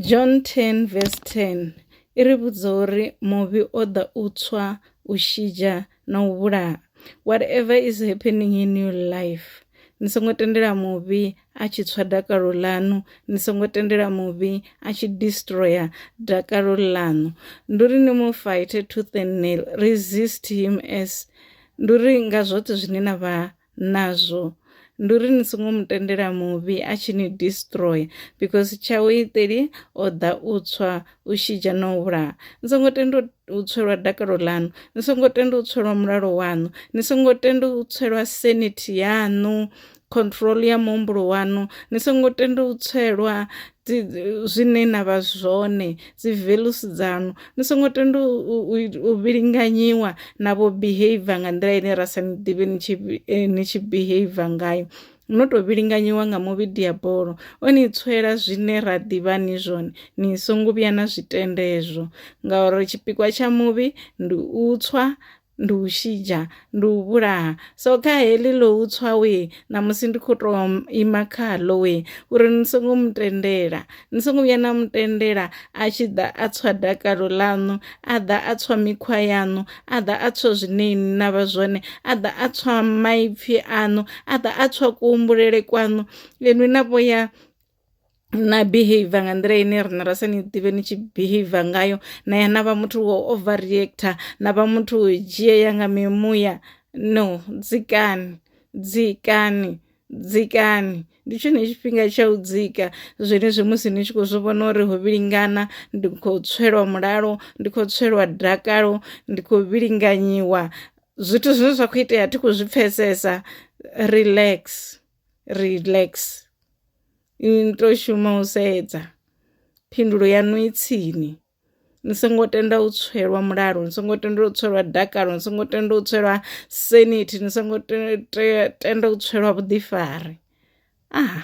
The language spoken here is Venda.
John 10 verse 10 i ri vhudza uri muvhi o ḓa u tswa u shidzha na u vhulaha whatever is happening in your life ni songo tendela muvhi a tshi tswa dakalo ḽanu ni songo tendela muvhi a tshi destroyer dakalo ḽanu ndi uri ni mu fight tooth and nail resist him as ndi uri nga zwoṱhe zwine na vha nazwo ndi uri ni songo mu tendela muvhi a tshi ni destroyer because tshawe iteli o ḓa u tswa u shidzha na u vhulaha ni songo tenda u tswelwa dakalo ḽaṋu ni songo tenda u tswelwa mulalo waṋu ni songo tenda u tswelwa sanity yaṋu control ya muhumbulo waṋu ni songo tenda u tswelwa zwine na vha zwone dzi values dzanu ni songo tenda u vhilinganyiwa na vho behavior nga nḓila ine ra sa ni ḓivhe ni tshi eh, ni tshi behavior ngayo no tou vhilinganyiwa nga muvhidi ya bolo o ni tswela zwine ra ḓivha ni zwone ni songo vhuya na zwitendezwo ngauri tshipikwa tsha muvhi ndi u tswa ndi u shidzha ndi u vhulaha so kha heḽi ḽo u tswa we ṋamusi ndi khou tou ima khaḽo we uri ni songo mu tendela ni songo vhuya na mu tendela a tshi ḓa a tswa dakalo ḽaṋu a ḓa a tswa mikhwa yaṋu a ḓa a tswa zwine ni na vha zwone a ḓa a tswa maipfhi aṋu a ḓa a tswa kuhumbulele kwaṋu inwi na vho ya na behavior nga nḓila ine riṋe ra sa ni ḓivhe ni tshi behavior ngayo na ya na vha muthu wo over reactor na vha muthu wo dzhia ya nga mimuya no dzikani dzikani dzikani ndi tshone tshifhinga tsha u dzika zwenezwi musi ni tshi khou zwi vhona uri ho vhilingana ndi khou tswelwa mulalo ndi khou tswelwa dakalo ndi khou vhilinganyiwa zwithu zwine zwa khou itea thi khou zwi pfhesesa relax. relax i to shuma u sedza phindulo yaṋu i tsini ni songo tenda u tswelwa mulalo ni songo tenda u tswelwa dakalo ni songo tenda u tswelwa senithi ni songo tenda u tswelwa vhuḓifari ah.